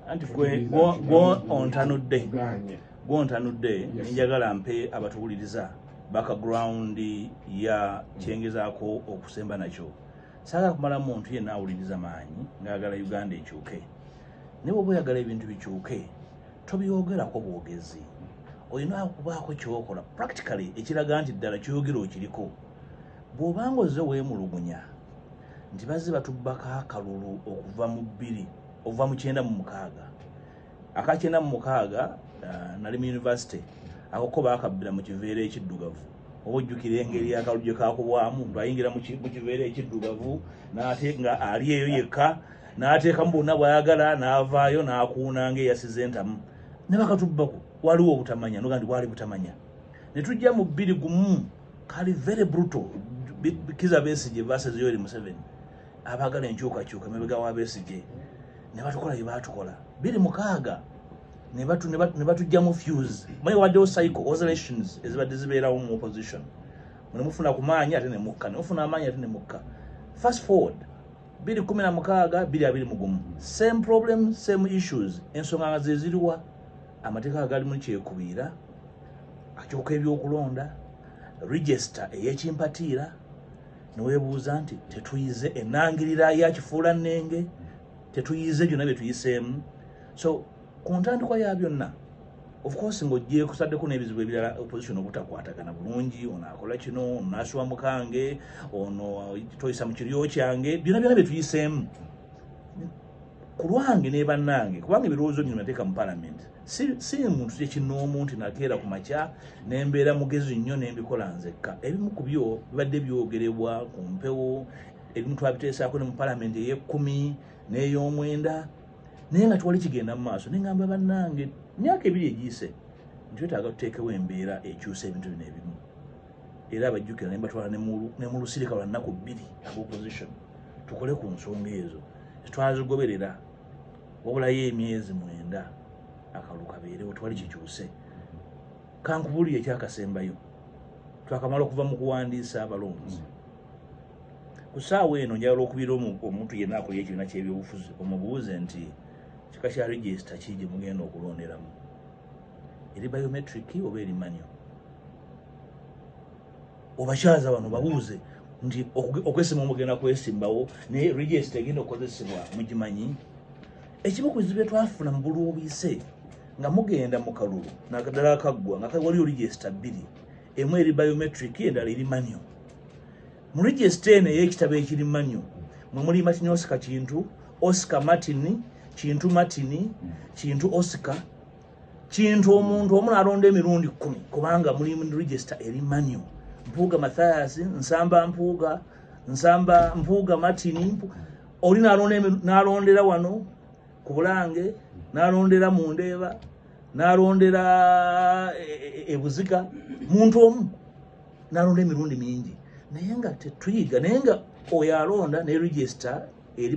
anti gwontanudde gwontanudde nenjagala mpe abatuwuliriza background ya kyengezaako okusemba nakyo saagala kumala muntu yenna awuliriza maanyi ngaagala uganda ekyuke naye oba oyagala ebintu bikyuke tobyogerako bwogezi olina okubaako kyokola practically ekiraga nti ddala kyogera okiriko Bw'oba ng'ozze weemulugunya nti bazze batubbako akalulu okuva mu bbiri okuva mu kyenda mu mukaaga aka kyenda mu mukaaga uh, nali mu yunivasite akoko baakabbira mu kiveera ekiddugavu oba ojjukira engeri akalulu gye kaakubwamu lwayingira mu kiveera ekiddugavu n'ate nga ali eyo yekka n'ateekamu bonna bw'ayagala n'avaayo n'akuuna ng'eyasiza entamu ne bakatubbako waliwo obutamanya noga nti bwali butamanya ne tujja mu bbiri gumu kali very brutal kiza besije versus yoweri museveni abagala enkyukakyuka emabega wa besije ne batukola bye baatukola biri mukaaga ne batujjamu fuse maye waddewo cycle oscillations ezibadde zibeerawo mu opposition mune mufuna ku maanyi ate ne mukka ne mufuna amaanyi ate ne mukka fast forward biri kumi na mukaaga biri abiri mugumu same problem same issues ensonga nga zeziriwa amateeka agali mu kyekubiira akyuka ebyokulonda register eyekimpatiira newebuuza nti tetuyize enangirira yakifuula nenge tetuyize byonna byetuyiseemu so ku ntandikwa ya byonna ofcourse ngaogyekusaddeko n'ebizibu ebirala opposition obutakwatagana bulungi ono akola kino onoaswa mukange ono toyisa mu kiryo kyange byonna byona byetuyiseemu ku lwange nebanange kubanga ebirowoozo bino nateeka mu palamenti si muntu kyekinoomu nti nakeera ku makya nembeera mugezi nnyo nembikola nzekka ebimu ku byo bibadde byogerebwa ku mpewo ebimu twabiteesaako ne mu palamenti ey'ekkumi n'ey'omwenda naye nga twali kigenda mu maaso nengamba bannange myaka ebiri egiyise nti wetaaga tuteekewo embeera ekyusa ebintu bino ebimu era abajjukira nembatwala ne mu lusirika lwa nnaku bbiri ab opposition tukole ku nsonga ezo twazigoberera wabulayo emyezi mwenda akalulu kabeerewo twali kikyuse kankubulire ekyakasembayo twakamala okuva mu kuwandiisa abalonzi ku saawa eno njala lwokubira omuntu yenna akulya ekibiina kyebyobufuzi omubuuze nti kika kya regisita ki gye mugenda okulonderamu eri biometric oba eri manyo obakyaza bano babuuze nti okwesima omugenda kwesimbawo naye regist egenda okukozesebwa mugimanyi ekimu ku bizibu byetwafuna mu bulwobise nga mugenda mu kalulu naddala akaggwa nga waliyo regist bbiri emu eri biometric endala eri manio mu regist eno eyekitabo ekiri manio mwe muli matini osika kintu osika martin kintu martin kintu osika kintu omuntu omu nalonda emirundi kumi kubanga muli register eri manu mpuuga mathias nsamba mpuuga nsamba mpuuga martin oli nalondera wano ku bulange nalondera mu ndeeba nalondera ebuzika e, e, e muntu omu nalonda emirundi mingi naye nga tetuyiga naye nga oyo alonda ne register eri